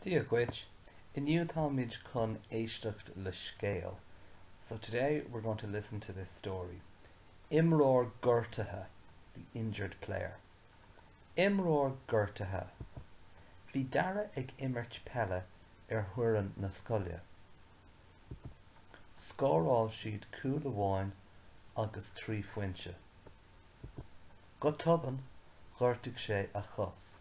Dia dhuit. Inniu táimid chun éisteacht le scéal So today we're going to listen to this story. Imreoir gortaithe The injured player. Imreoir gortaithe Bhí Dara ag imirt peile ar fhoireann na scoile. Scóráil siad cúl amháin agus trí phointe. Go tobann, ghortaigh sé a chos.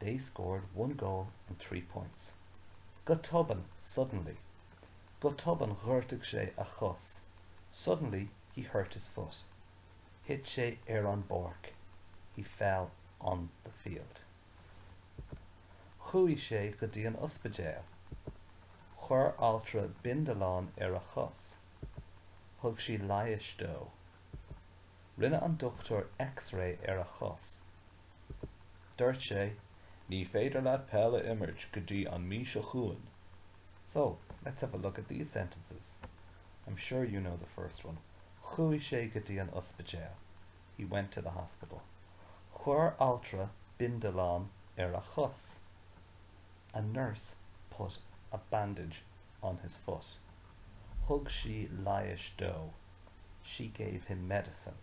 They scored one goal and three points. Go tobann, suddenly. Go tobann ghortaigh sé a chos, suddenly he hurt his foot. Thit sé ar an bpáirc, he fell on the field. Chuaigh sé go dtí an ospidéal. Chuir altra bindealán ar a chos. Thug sí leighis dó. Rinne an dochtúir X-ray ar a chos. Dúirt sé, Ní féidir leat peil a imirt go dtí an mí seo chugainn. So, let's have a look at these sentences. I'm sure you know the first one. Chuaigh sé go dtí an ospidéal. He went to the hospital. Chuir altra bindealán ar a chos. A nurse put a bandage on his foot. Thug sí leighis dó. She gave him medicine.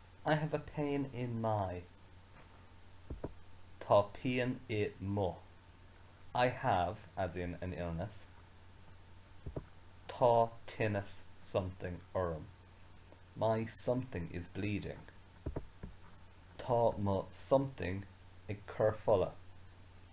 I have a pain in my Tá pian i mo I have, as in an illness, Tá tinneas something orm. My something is bleeding. Tá mo something ag cur fola.